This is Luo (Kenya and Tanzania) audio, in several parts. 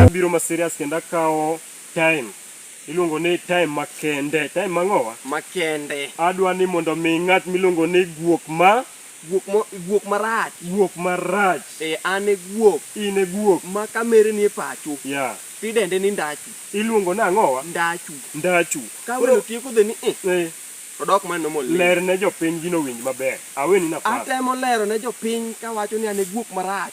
Abiro ma serious kendo akawo time iluongo ni time makende time mang'owa makende adwa ni mondo mi ng'at miluongo ni guok ma guok marach guok marach e an e guok in e guok ma kamere ni e pacho yeah. tidende ni ndachu iluongo ni ang'owa ndachu ndachu kawelo tieko dhe ni eh. eh. Odok man normal ni. Ler ne jopiny gino owinj maber. Aweni nafas. Atemo lero ne jopiny kawacho ni an e guok marach.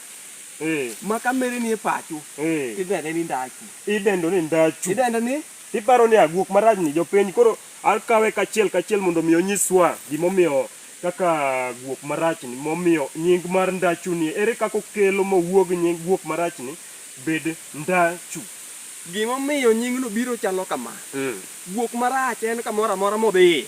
Eh. Ma ka mere ni e pacho. Eh. Idende ni ndachu. Idendo ni ndachu. Idende ni? Iparo ni aguok marach ni jopiny koro akawe kachiel kachiel mondo mi onyiswa gimomiyo kaka guok marach ni momiyo nying mar ndachu ni ere kaka okelo mowuog nying guok marach ni bed ndachu. Gimomiyo nyingno biro chalo kama, Guok marach en kamoro amora modhiye,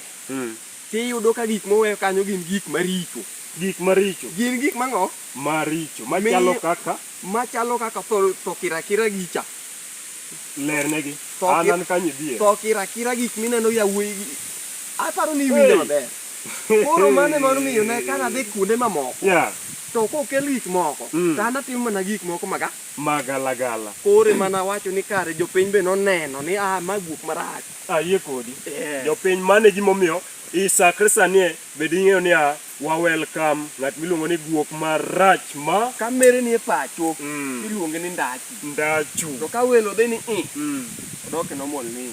tiyudo ka gik moweyo kanyo gin gik maricho. Gik maricho. Gin gik mang'o? Maricho. Machalo kaka? Machalo kaka tho, tho kirakira gi cha. Lernegi. Tho An ki- an kanyo idhier. Tho kirakira gik mineno yawuoyi gi. Aparo ni iwinjo Hey! maber. Koro mano ema nomiyo ne ka nadhi kuonde mamoko Yeah. to kokel gik moko Mm. to an atimo mana gik moko maga Magalagala. koro ema nawacho ni kare jopiny be noneno ni ah ma guok marach Ayie kodi. Eh. Jopiny mane gimomiyo isakre sani e, bed ing'eyo ni a wa welcome ng'at miluongo ni guok marach ma ka mere ni e pacho Mm. iluonge ni ndachi ndachu. to ka welo dhi ni i Mm. odok e normal ni